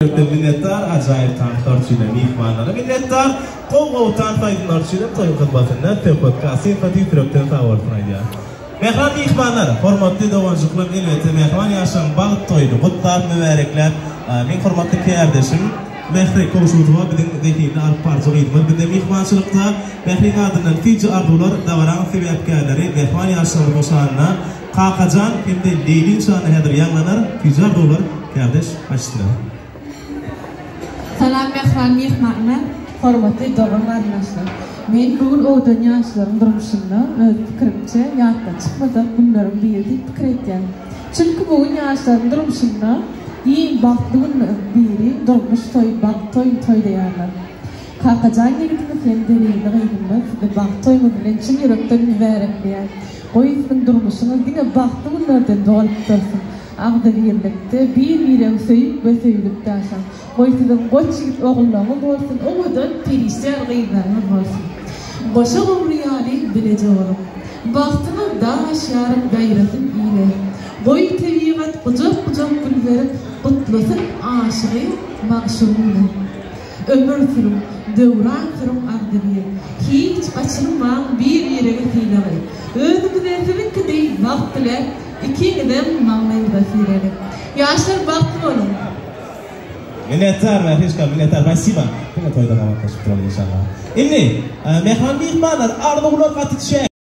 Döwlete minnetdar, ajaýyp tanyşlar üçin hem myhmanlara minnetdar. Gowy gowy tans aýdymlar üçin hem toýuň hyzmatynda söhbetkaş sympatik ýürekden sag bolsun aýdýar. Mähriban myhmanlar, hormatly doganjyklar elbetde mähriban ýaşlaryň bagt toýuny gutlap, mübärekläp, meň hormatly kärdeşim Mähri Kowşutowa biziň zehinli alyp baryjy gyzymyz bize myhmançylykda. Mähriň adyndan TJ Arzuwlar dabaraň sebäpkärleri mähriban ýaşlarymyzyň şanyna Kakajan hem-de Leýli şany häzir ýaňlanar, tüýjar doglar, kärdeş başçylar. Salam mähriban myhmanlar, hormatly dogan-garyndaşlar! Men bu gün owadan ýaşlaryň durmuşynda, öz pikirimçe, ýatdan çykmajak günleriň biri diýip pikir edýän. Çünki bu gün ýaşlaryň durmuşynda iň bagtly günleriň biri, durmuş toýy, bagt toýuny toýlaýarlar. Kakajan ýigitimi sen Zerirli gyzyňda sizi bagt toýuňyz bilen çyn ýürekden mübärekleýän. Goý siziň durmuşyňyz diňe bagtly günlerden dolup dursun. Agzybirlikde, bir-biregi söýüp we söýülip ýaşaň. Goý siziň goç ýigit ogullaryňyz bolsun, owadan, perişde ýaly gyzlaryňyz bolsun. Goşa gowry ýaly bileje boluň. Bagtyňyz dag aşýaryn ýaýrasyn ile. Goý tebigat gujak-gujak gül berip gutlasyn aşygy-magşugyny. Ömür sürüň, döwran sürüň Agzybir. Hiç gaçyrmaň bir-biregi sylagy. Özüňize siziňki deý bagt diläp, ikiňizem magnyňyza siregek. Ýaşlar bagtly boluň! Minnetdar Mährişka, minnetdar Basiba. Diňe toýda gabatlaşyp duralyň inşallah. Indi, mähman myhmanlar, arzuwlar gaty çäk.